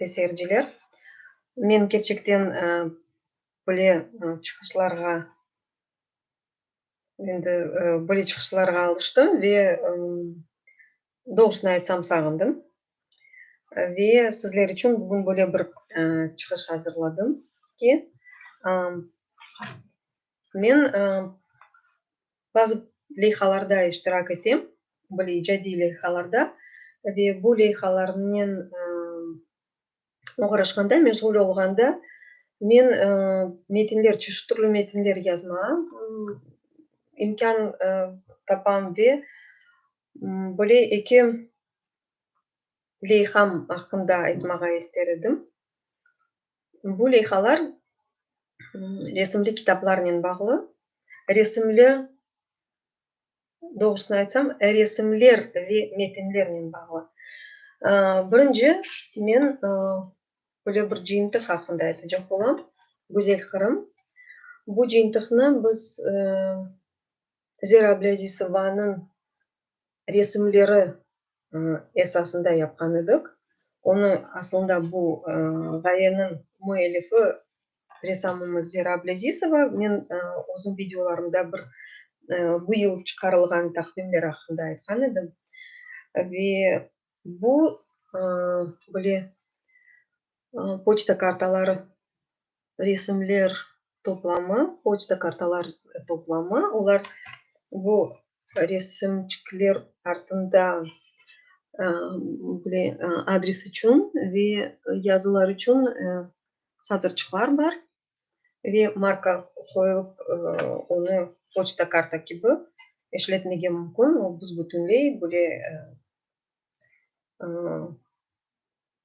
ve seyirciler. Men kerçekten böyle çıqışlarğa endi böyle çıqışlarğa alıştım ve doğrusını aytsam sağındım. Ve sizler içün bugün böyle bir çıqış azırladım ki, Men bazı leyhalarda iştirak etem, böyle icadiy leyhalarda, ve bu leyhalarnen oğraşqanda, meşğul olğanda men metinler, çeşit türlü metinler yazmağa imkân tapam ve böyle eki leyham aqqında aytmağa ister edim. Bu leyhalar resimli kitaplarnen bağlı, resimli, doğrusını aytsam, resimler ve metinlernen bağlı. Birinci men böyle bir cıyıntıq aqqında aytacaq olam, Güzel Qırım. Bu cıyıntıqnı biz Zera Ablâzisovanıñ resimleri esasında yapqan edik. Onı aslında bu ğayeniñ müellifi ressamımız Zira Ablezizova, men özüm videolarımda bir bu yıl çıqarılğan taqvimler aqqında aytqan edim. Ve bu böyle poçta kartaları resimler toplamı, poçta kartalar toplamı, olar bu resimçikler artında böyle adres içün ve yazılar içün satırçıqlar bar ve marka qoyulıp onı poçta karta kibi işletmege mümkün, o büsbütünley böyle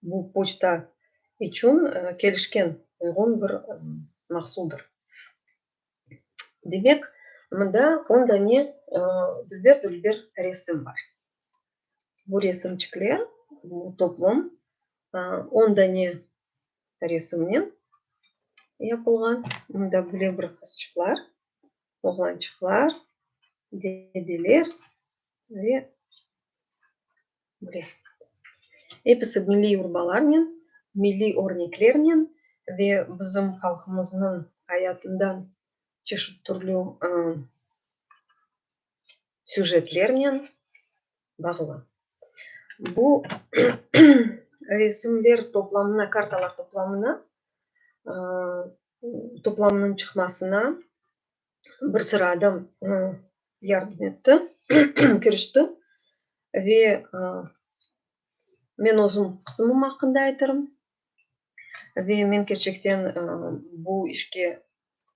Bu poçta içün kelişken, uyğun bir mahsuldır. Demek, mında on dane dülber-dülber resim bar. Bu resimçikler, bu toplum on dane resimnen yapılğan. Mında böyle bir qızçıqlar, oğlançıqlar, dedeler ve. Episi milliy yurbalarnen, milliy örneklernen ve bizim halqımıznıñ ayatından çeşit türlü süjetlernen bağlı. Bu resimler toplamına, kartalar toplamına, toplamınıñ çıqmasına bir sıra adam yardım etti, kirişti. Ve men özüm qızımım aqqında aytarım. Ve men kerçekten bu işke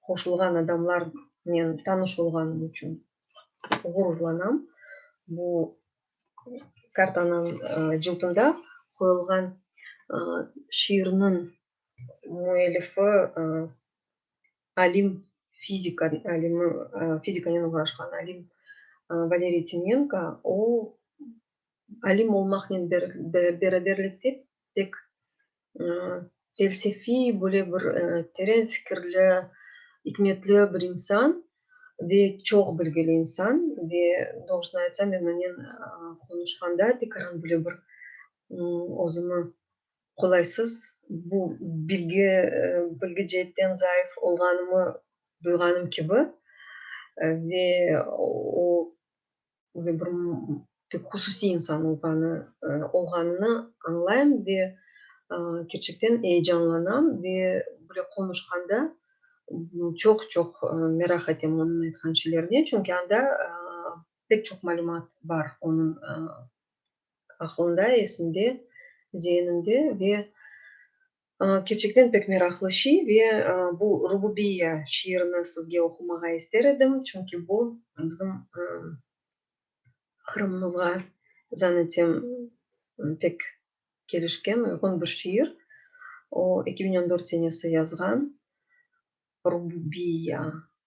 qoşulğan adamlarnen tanış olğanım içün ğururlanam. Bu kartanıñ cıltında qoyulğan şiirniñ müellifi alim, fizika alimi, fizikanen oğraşqan alim Valeriy Timenko, o, alim olmaqnen beraberlikte, pek felsefiy, böyle bir teren fikirli, ikmetli bir insan ve çoq bilgili insan. Ve doğrusını aytsam, men onen qonuşqanda tekaran böyle bir özümi Qolaysız, bu bilgi, bilgi ceetten zayıf olğanımı duyğanım kibi ve o ve bir pek hususiy insan olğanı, olğanını añlayım ve kerçekten eyecanlanam ve bile qonuşqanda çoq, çoq meraq etem onıñ aytqan şeylerine, çünki anda pek çoq malümat bar onıñ aqlında, esinde, zehininde ve kerçekten pek meraqlı şey ve bu Rububiyya şiirini sizge oqumağa ister edim, çünki bu bizim Qırımımızğa zan etem pek kelişken, uyğun bir şiir. O, eki biñ on dört senesi yazğan Rububiyya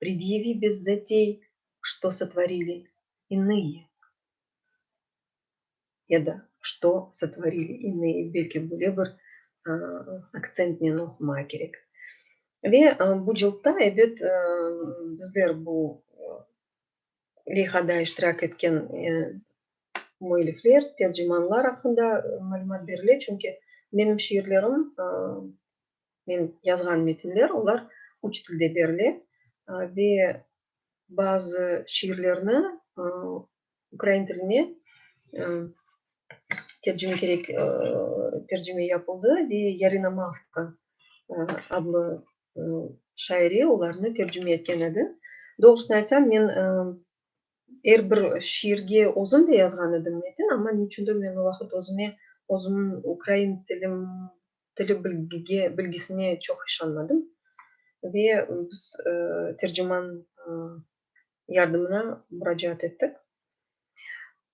Predyevi bez zatey, Što sotvorili inıye ya da Što sotvorili inıye, belki böyle bir aktsentnen oqumağa kerek. Ve bu cıltta, ebet, bizler bu leyhada iştirak etken müellifler, tercimanlar aqqında malümat berile, çünki menim şiirlerim Men yazğan metinler, olar üç tilde berile ve bazı şiirlerni ukrain tiline tercime kerek, tercime yapıldı ve Yarina Mavka adlı şaire olarnı tercime etken edi. Doğrusını aytsam, men er bir şiirge özüm de yazğan edim metin, amma niçündir men o vaqıt özüme, özümniñ ukrain tilim tili bilgige, bilgisine çoq işanmadım ve biz terciman yardımına muracaat ettik.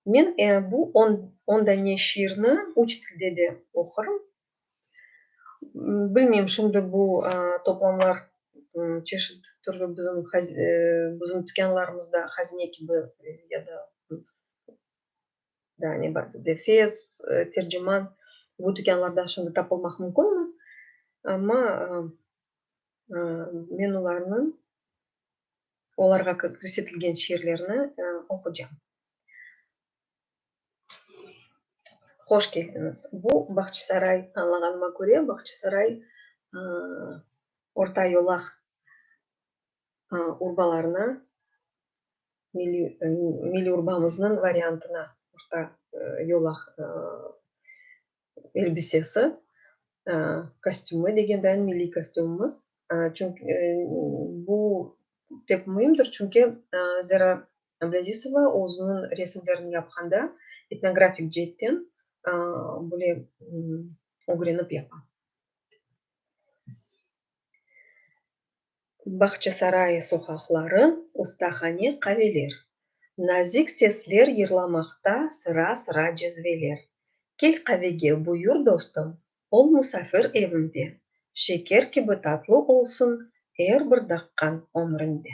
Men bu on, on dane şiirni üç tilde de oqurım. Bilmeyim, şimdi bu toplamlar çeşit türlü bizim bizim tükânlarımızda hazine kibi ya da Daa ne bar bizde? Fez, Terciman, bu tükânlarda şimdi tapılmaq mümkünmi? Amma men olarnıñ, olarğa kirsetilgen şiirlerni oqucam. Hoş keldiñiz. Bu Bağçasaray, añlağanıma köre, Bağçasaray orta yolaq urbalarına, milliy urbamıznıñ variantına orta yol elbisesi, kostümı degendayin milliy kostümimiz. Bu pek müimdir, çünki Zera Abdüazizova özüniñ resimlerini yapqanda etnografik ceetten böyle ögrenip yapa. Bağçasarayı soqaqları, ustahane, qaveler. Nazik sesler yırlamaqta sıra-sıra cezveler. Kel qavege, buyur, dostum, ol musafir evinde, Şeker kibi tatlı olsun er bir daqqañ ömründe.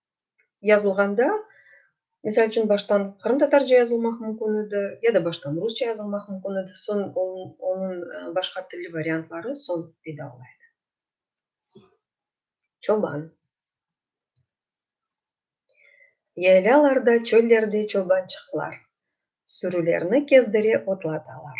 yazılğanda, misal içün, baştan qırımtatarca yazılmaq mümkün edi, ya da baştan rusça yazılmaq mümkün edi, soñ onıñ başqa tilli variantları soñ peyda ola edi. Çoban. Yaylalarda, çöllerde çobançıqlar sürülerni kezdire otlatalar.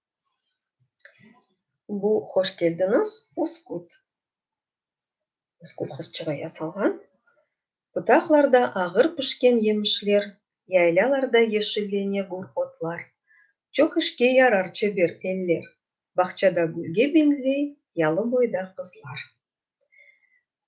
Bu hoş keldiñiz Uskut. Uskut qızçığı yasalğan. Butaqlarda ağır pişken yemişler, yaylalarda yeşillene gür otlar. Çoq işke yarar çeber eller, bağçada gülge beñzey yalı boyda qızlar.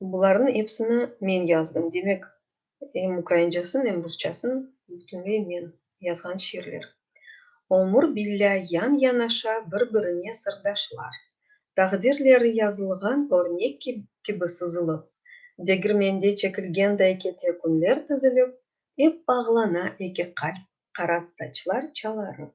Bularnıñ epsini men yazdım. Demek, em ukraincasın, em rusçasın bütünley men yazğan şiirler. Ömür billâ yan-yanaşa bir-birine sırdaşlar, taqdirleri yazılğan örnek kibi sızılıp, degirmende çekilgenday kete künler tizilip, ep bağlana eki qalp, qaraz saçlar çalarıp.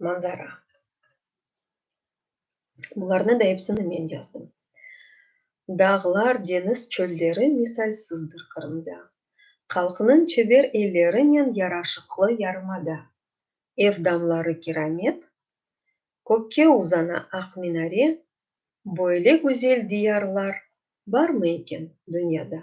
Manzara. Bularnı da epsini men yazdım. Dağlar, deñiz, çölleri misalsızdır Qırımda. Halqnıñ çeber ellerinen yaraşıqlı yarımada. Ev damları kiramet, kökke uzana aq minare, böyle güzel diyarlar barmı eken dünyada?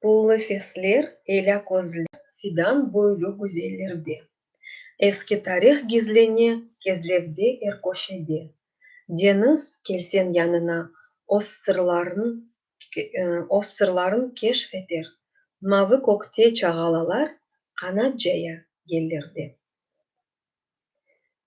Pullı fesler, elâ közler. Fidan boylu güzellerde. Eski tarih gizlene kezlevde er köşede. Deñiz, kelseñ yanına, öz sırlarıñ, öz sırlarıñ keşf eter. Mavı kökte çağalalar qanat caya yellerde.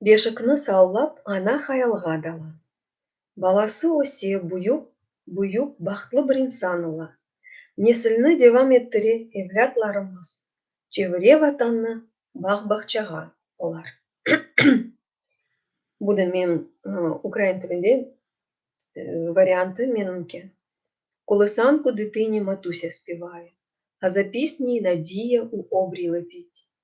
Beşikni sallap ana hayalğa dala. Balası öse, büyük, büyük, bahtlı bir insan ola. Nesilni devam ettire evlâtlarımız, çevire Vatannı bağ-bağçağa olar. Bu da men ukrain tilinde variantı menimki. Kolosanku ditiñi Matusia spevaya, a za pisnyi Nadiya u obrij letit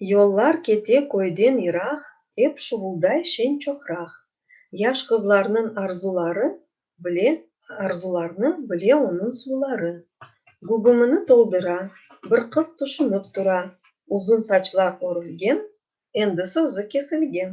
Yollar kete köyden yıraq, Ep şuvulday şeñ çoqraq. Yaş qızlarnıñ arzuları Bile, arzularnı bile onıñ suvları. Gugumını toldıra, Bir qız tüşünip tura, Uzun saçlar örülgen, Endi sözü kesilgen.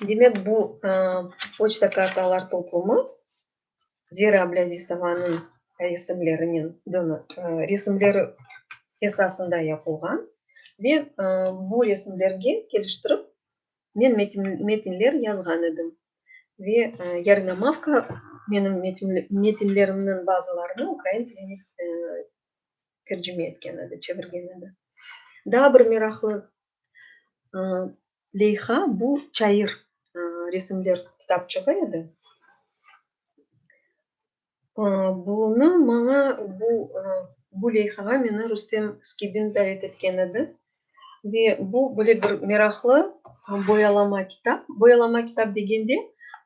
Demek, bu poçta kartalar toplumı Zira Ablâzisovanıñ resimlerinen, resimleri esasında yapılğan ve bu resimlerge keliştirip men metinler yazğan edim ve Yarınamovka menim metinlerimniñ bazılarını ukrain tiline tercime etken edi, çevirgen edi. Daa bir meraqlı Leyha, bu çayır resimler kitapçığı edi. Bunı maña, bu leyhağa meni Rustem Skibin davet etken edi. Ve bu böyle bir meraqlı boyalama kitap. Boyalama kitap degende,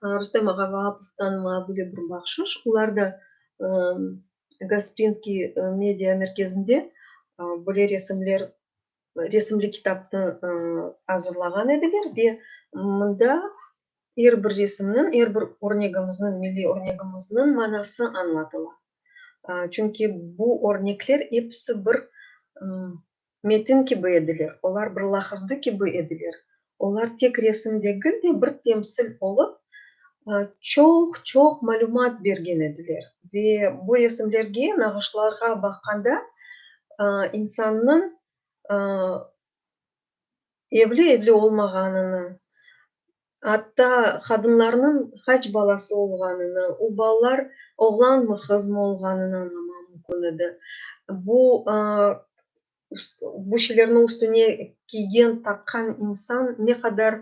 Rustem Ağavapovdan maña böyle bir bahşış, olar da Gasprinskiy media merkezinde böyle resimler resimli kitapnı azırlağan ediler ve mında er bir resimniñ, er bir örnegimizniñ, milliy örnegimizniñ manası añlatıla. Çünki bu örnekler episi bir metin kibi ediler, olar bir laqırdı kibi ediler, Olar tek resim degil de, bir temsil olıp, çoq-çoq malümat bergen ediler. Ve bu resimlerge, nağışlarğa baqqanda, insannıñ evli-evli olmağanını, atta qadınlarnıñ qaç balası olğanını, o balalar oğlanmı, qızmı olğanını añlamaq mümkün edi. Bu bu şeylerni üstüne kiygen, taqqan insan ne qadar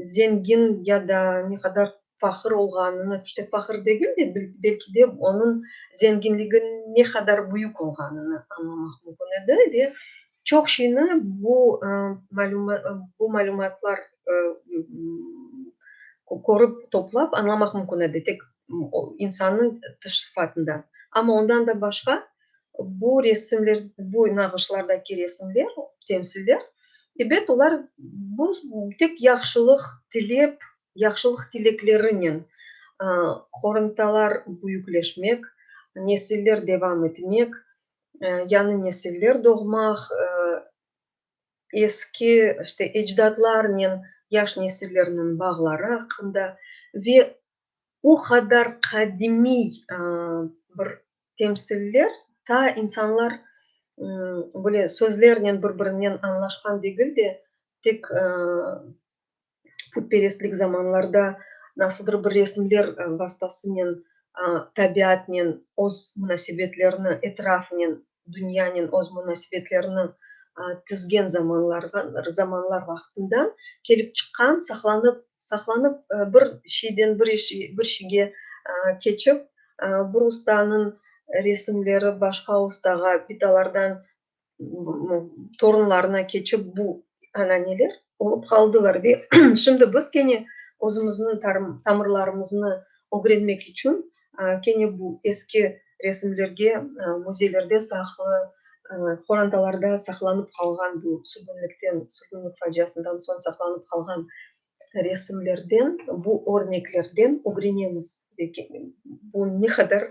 zengin ya da ne qadar faqır olğanını, işte faqır degil de, belki de onıñ zenginligi ne qadar büyük olğanını añlamaq mümkün edi. Ve çoq şeyni bu malümatlar körip, toplap añlamaq mümkün edi, tek insannıñ tış sıfatından. Amma ondan da başqa, Bu resimler, bu nağışlardaki resimler, temsiller, ebet, olar bu tek yahşılıq tilep, yahşılıq tileklerinen qoruntalar büyükleşmek, nesiller devam etmek, yañı nesiller doğmaq, eski işte ecdatlarnen yaş nesillerniñ bağları aqqında ve O qadar qadimiy bir temsiller, ta insanlar böyle sözlernen bir-birinen añlaşqan degil de, tek putperestlik zamanlarda nasıldır bir resimler vastasınen, tabiatnen öz munasebetlerini etrafınen Dünyanen öz munasibetlerini tizgen zamanlar vaqtından kelip çıqqan, saqlanıp, saqlanıp, bir şeyden bir şeyge keçip, bir ustanıñ resimleri başqa ustağa, bitalardan torunlarına keçip bu ananeler olıp qaldılar. Ve şimdi biz kene özümizniñ tamırlarımıznı ögrenmek içün kene bu eski resimlerge müzeylerde saqlı, qorantalarda saqlanıp qalğan bu sürgünlikten, sürgünlik faciasından soñ saqlanıp qalğan resimlerden, bu örneklerden ögrenemiz. Bu ne qadar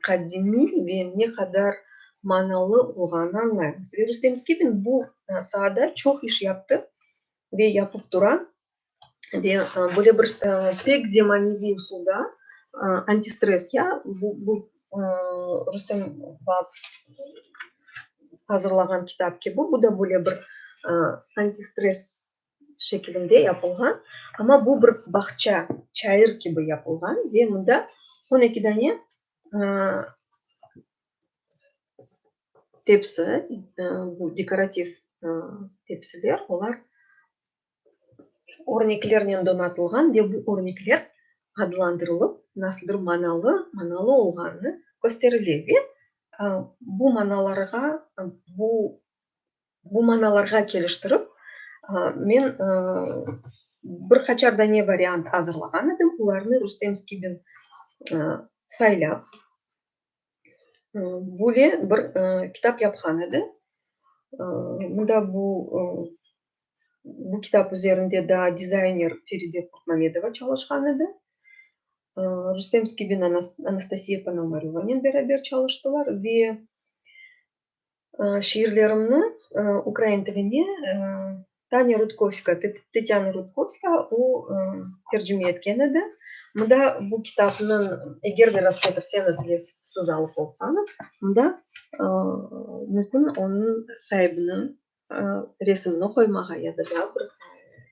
qadimiy ve ne qadar manalı olğanı añlaymız. Ve Rustem Skibin bu saada çoq iş yaptı ve yapıp tura. ve böyle bir pek zemaneviy usulda antistres ya bu Rustem azırlağan kitap kibi bu da böyle bir antistres şekilinde yapılğan, amma bu bir bağça, çayır kibi yapılğan ve mında on eki dane tepsi, bu dekorativ tepsiler, olar örneklernen donatılğan ve bu örnekler adlandırılıp nasıldır manalı, manalı olğanı kösterile ve bu manalarğa, bu bu manalarğa keliştirip men bir qaçar dane variant azırlağan edim, olarnı Rustem Skibin saylap, Böyle bir kitap yapqan edi. Mında bu bu kitap üzerinde daa dizayner Feride Kurtmamedova çalışqan edi. Rustem Skibin Anastasiya Ponomaryovanen beraber çalıştılar ve Şiirlerimni ukrain tiline Tanya Rudkovska, Tetyana Rudkovska, o tercüme etken edi. Mında bu kitapnıñ, eger de rastlatırseniz ve siz alıp olsañız, mında mümkün onıñ saibiniñ resimini qoymağa ya da daa bir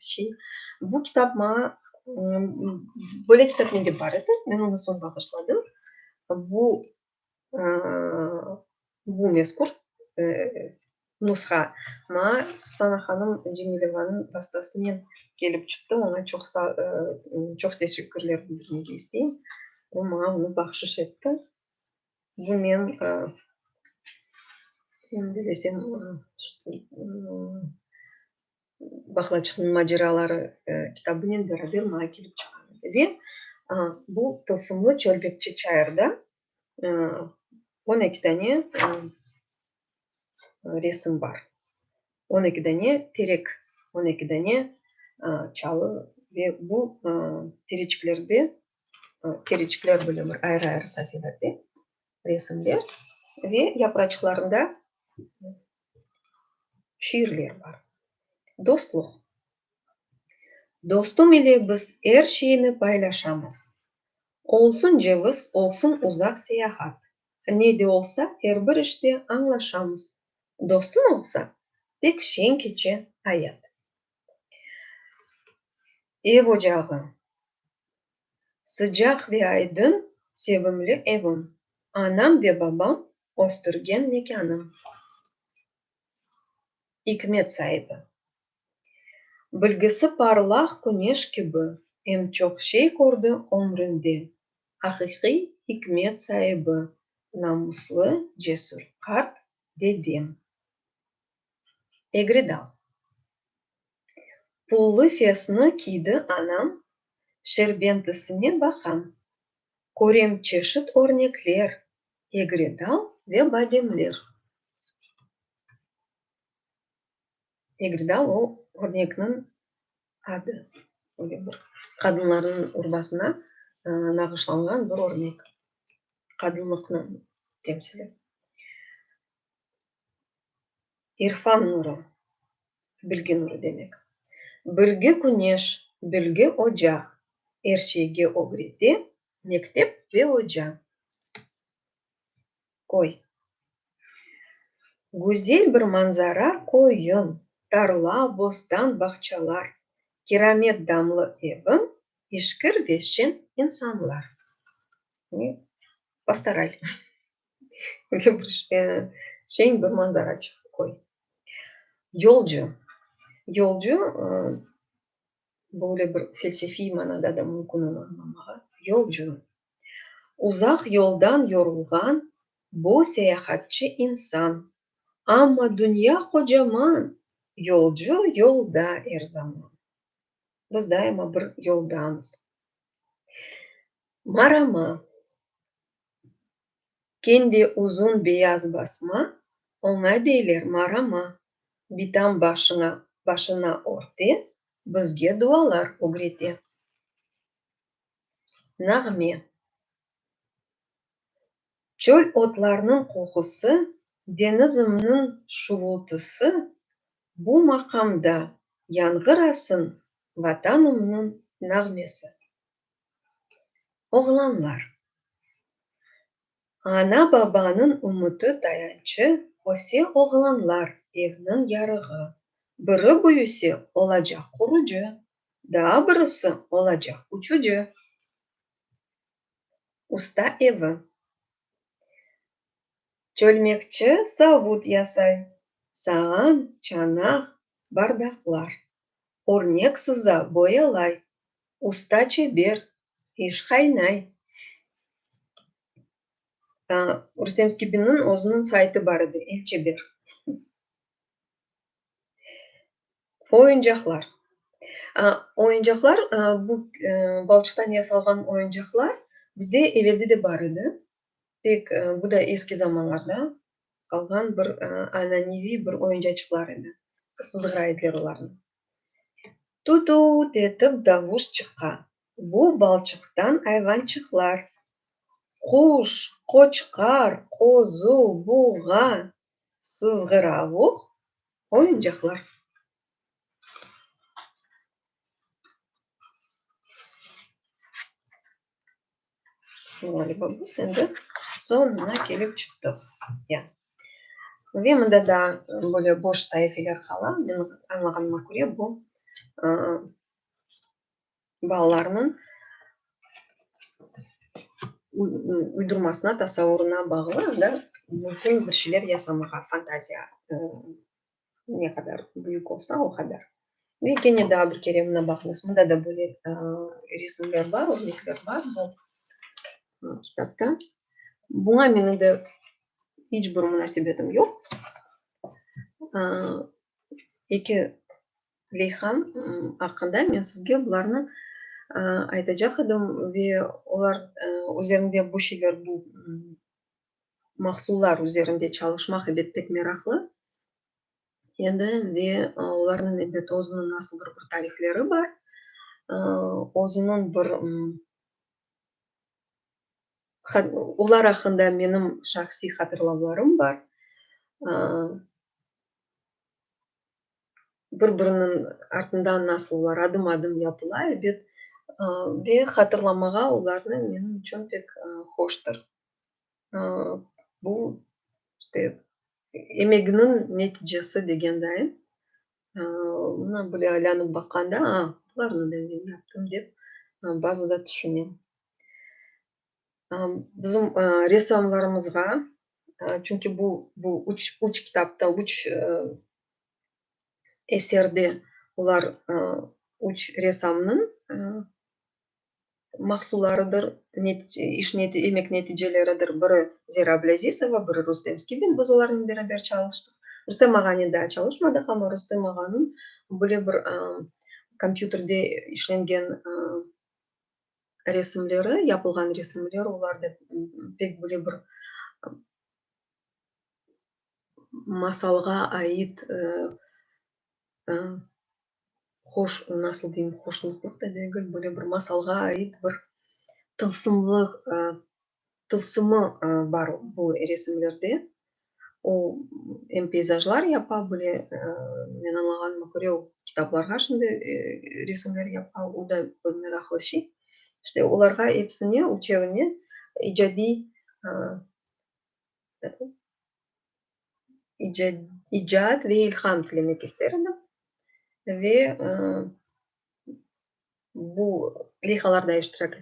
şey. Bu kitap maña, böyle kitap mende bar edi, men onı soñ bağışladım. Bu Bu mezkür nusha maa Susana hanım Cemilevanıñ vastasınen kelip çıqtı, oña çoq çoq teşekkürler bildirmege isteyim. O maña onı bahşış etti. Bu men endi desem Bahlaçıqnıñ maceraları kitabınen beraber maña kelip çıqa edi. Ve bu tılsımlı çölbekçi çayırda on eki dane resim bar. On eki dane terek, on eki dane çalı ve bu tereçiklerde, tereçikler böyle bir ayrı-ayrı sahifede. resimler ve yapraçıqlarında şiirler bar. Dostluq. Dostum ile biz er şeyni paylaşamız. Olsun ceviz, olsun uzaq seyahat, ne de olsa er bir işte añlaşamız. Dostuñ olsa, pek şeñ keçe ayat. Ev ocağı. Sıcaq ve aydın, sevimli evim. Anam ve babam östürgen mekânım. İkmet saibi. Bilgisi parlaq küneş kibi, em çoq şey kördi ömründe. Aqiqiy ikmet saibi, namuslı, cesür qart dedem. egri dal. Pullı fesni kiydi anam, şerbentisine baqam, körem çeşit örnekler, egri dal ve bademler. Egri dal, o örnekniñ adı, böyle bir qadınlarnıñ urbasına nağışlanğan bir örnek, qadınlıqnıñ temsili. İrfan nuru, bilgi nuru demek. Bilgi küneş, bilgi ocaq, er şeyge ögrete, mektep ve oca. Köy. Güzel bir manzara köyüm, tarla, bostan, bağçalar, kiramet damlı evim, işkir ve şen insanlar. Pastoral. Şeñ bir manzara çıqtı koy. Yolcu. Yolcu, böyle bir felsefiy manada da mümkün onı añlamağa. Yolcu, uzaq yoldan yorulğan bu seyahatçı insan, amma dünya qocaman, yolcu yolda er zaman. Biz daima bir yoldamız. Marama. Kendi uzun beyaz basma, oña deyler marama, bitam başına, başına örte, bizge dualar ögrete. Nağme. Çöl otlarnıñ qoqusı, deñizimniñ şuvultısı, bu maqamda yañğırasın Vatanımnıñ nağmesi. Oğlanlar. Ana-babanıñ ümüti tayançı öse oğlanlar, evniñ yarığı. Biri büyüse, olacaq qurucı, daa birisi, olacaq uçucı, usta evi. Çölmekçi savut yasay, sağan, çanaq, bardaqlar. Örnek sıza, boyalay, Usta çeber, iş qaynay. Rustem Skibinniñ özüniñ saytı bar edi, El çeber. Oyuncaqlar. Oyuncaqlar, bu balçıqtan yasalğan oyuncaqlar bizde eveldi de bar edi. Pek, bu da eski zamanlarda qalğan bir ananeviy bir oyuncaçıqlar edi. Sızğıra ediler olarnı. Tut-u-ut etip davuş çıqa. Bu balçıqtan ayvançıqlar, quş, qoçqar, qozu, buğa, sızğıravuq, oyuncaqlar. Ğaliba bu sende soñuna kelip çıqtı. Ya. Ve mında da böyle boş saifeler qala. Menim añlağanıma köre bu balalarnıñ uydurmasına, tasavurına bağlı, anda mümkün bir şeyler yasamağa, fantaziya Ne qadar büyük olsa, o qadar. Ve kene daa bir kere mına baqıñız, mında da böyle resimler bar, örnekler bar bu kitapta. Buña menim de iç bir munasebetim yoq. Eki leyham aqqında men sizge bularnı aytacaq edim ve olar üzerinde bu şeyler, bu mahsullar üzerinde çalışmaq ede pek meraqlı edi ve olarnıñ elbet özüniñ nasıldır bir tarifleri bar, özüniñ bir olar aqqında menim şahsiy hatırlavlarım bar, bir biriniñ artından nasıl olar adım adım yapıla edi ve hatırlamağa olarnı menim içün pek hoştur. Bu, işte, emeginiñ neticesi degenday. Mına böyle aylanıp baqanda, a, bularnı da men yaptım, dep bazı da tüşünem. Bizim ressamlarımızğa, çünki bu, bu üç, üç kitapta, üç eserde olar üç ressamnıñ mahsularıdır, iş emek neticeleridir, biri Zira Ablâzizova, biri Rustem Skibin, biz olarnen beraber çalıştıq. Rustem ağanen daa çalışmadıq, amma Rustem ağanıñ böyle bir kompyuterde işlengen resimleri, yapılğan resimleri, olar da pek böyle bir masalğa ait hoş, nasıl deyim, hoşnutlıq da degil, böyle bir masalğa ait bir tılsımlı, tılsımı bar bu resimlerde. O, em peyzajlar yapa bile, men añlağanıma köre, o kitaplarğa şimdi resimler yapa, o da bir meraqlı şey. İşte, olarğa episine, üçevine icadiy icat ve ilham tilemek ister edim. Ve bu leyhalarda iştirak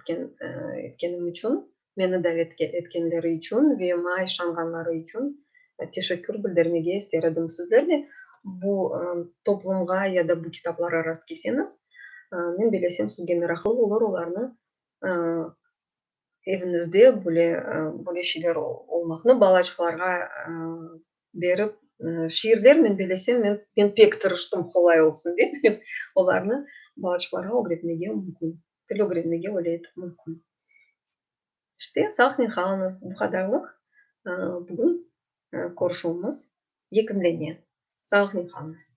etkenim içün, meni davet etkenleri içün ve maña işanğanları içün teşekkür bildirmege ister edim. Sizler de bu toplumğa ya da bu kitaplara rastkelseñiz, men bilesem, sizge meraqlı olur olarnı Eviñizde böyle, böyle şeyler olmaqnı balaçıqlarğa berip, şiirler men belesem, men, men pek tırıştım, qolay olsun dep, olarnı balaçıqlarğa ögretmege mümkün, til ögrenmege öyle etip mümkün. İşte, sahnen qalınız, bu qadarlıq bugün körüşüvimiz yekünlene. Sahnen qalınız.